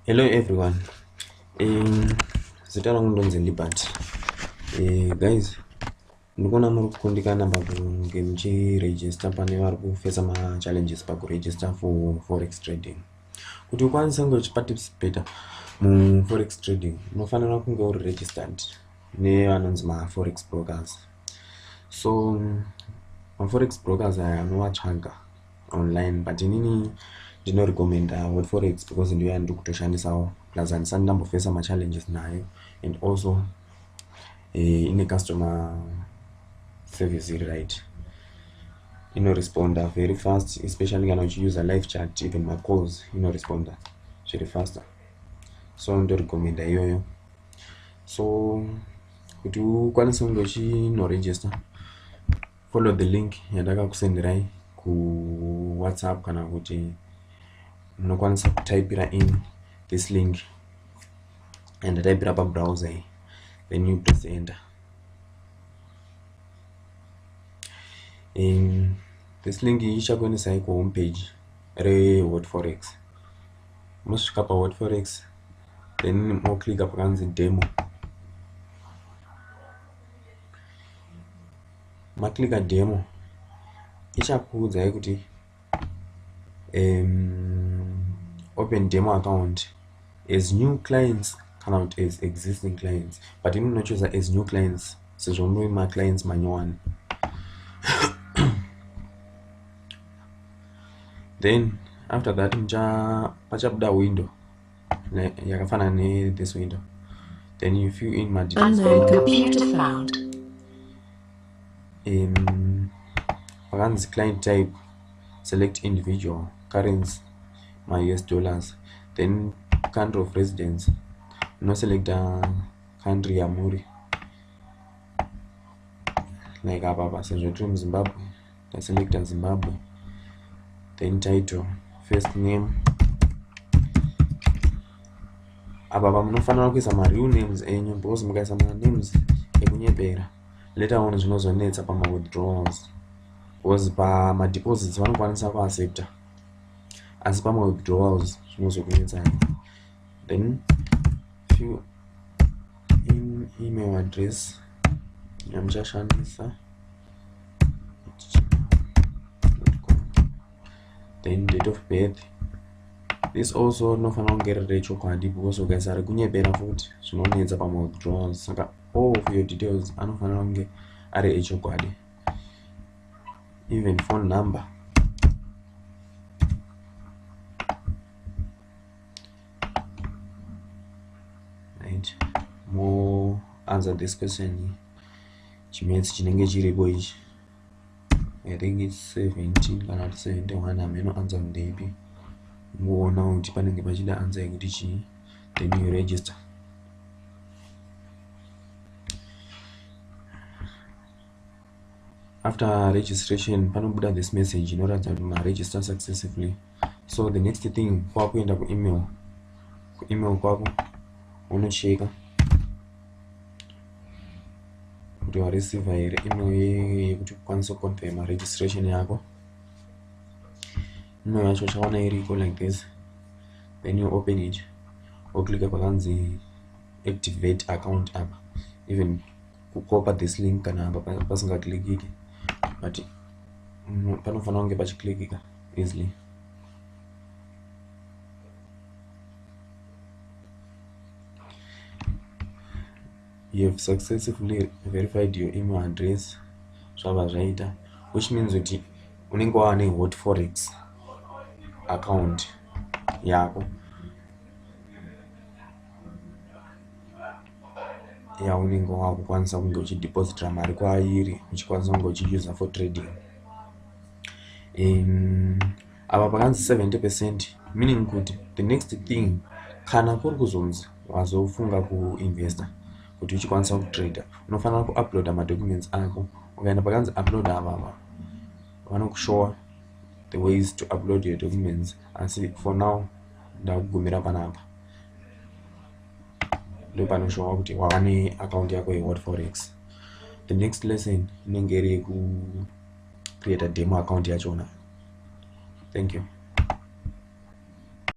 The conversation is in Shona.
hello everyone um, zita rangu ndonzi libert uh, guys ndikuona muri kukundikana pakunge muchiregister pane vari kufesa machallenges pakuregister for forex trading kuti ukwanise kunge uchiparticipata muforex trading unofanira kunge uri registered nevanonzi maforex brokers so maforex brokers aya anovatsvaga online but inini ndinorecommenda word forex because ndiyo yandiri kutoshandisawo plus handisati ndambofesa machallenges nayo and also eh, ine customer service iri right inoresponda very fast especially kana uchiuser life chat even macalls inoresponda zviri faster so ndorecommenda iyoyo so kuti ukwanise kunge uchinoregister follow the link yandakakusenderai kuwhatsapp kana kuti munokwanisa kutaipira in this link and ndataipira pabrowser iyi then you press enter in this link iyi ichakuendesai kuhome page rehot forex mosvika pahot forex then moclicka pakanzi demo maclicker demo ichakuudzai kuti um, open demo account as new clients kana kuti as existing clients but ini ndinochuza as new clients sezvo muri maclients manyowani then after that mucha pachabuda window yakafanana ne this window then you fill in my details um, vakanzi client type select individual currency my us dollars then country of residence unoselecta uh, country yamuri like apa apa sezvo tiri muzimbabwe taselecta zimbabwe then title first name apa pamunofanira kuisa mareal names enyu because mukaisa manames ekunyepera later on zvinozonetsa pamawithdrawals because pamadeposits vanokwanisa kuaccepta asi pamawithdrawals zvinozokunetsai then fill in email address yamuchashandisa then date of birth this also rinofanira kunge riri rechokwadi because ukaisa rekunyebera futi zvinonetsa pamawithdrawals saka all of your details anofanira kunge ari echokwadi even phone number right more answer this question chimaths chinenge chiripo ichi i think its 17 kana kuti 71 hameno answer ndeipi ngoona kuti panenge pachida answer yekuti chii then you register after registration panobuda this message inoratidza kuti maregister successfully so the next thing kwakuenda kuemail kuemail kwako unocheka kuti wareceiva here email yekuti ukwanise kuconfirma registration yako email yacho uchaona iriko like this then you open it woclicka pakanzi activate account app even kukopa this link kana apa pasingaklikiki but mm, panofanira kunge pachiklikika easily you have successfully verified your email address zvava zvaita which means kuti unenge wava nehot forex account yako yeah. yaunenge wakukwanisa kunge uchidepositira mari kwairi uchikwanisa kunge uchiuser for trading um, apa pakanzi 70 percent meaning kuti the next thing kana kuri kuzonzi wazofunga kuinvesta kuti uchikwanisa kutrader unofanira kuuploada madocuments ako ukaenda pakanzi upload avava vanokushowa the ways to upload your documents asi for now ndakugumira panapa ndopanoshowa kuti wava neaccount yako yehot forex the next lesson inenge iri yekucreata demo account yachona thank you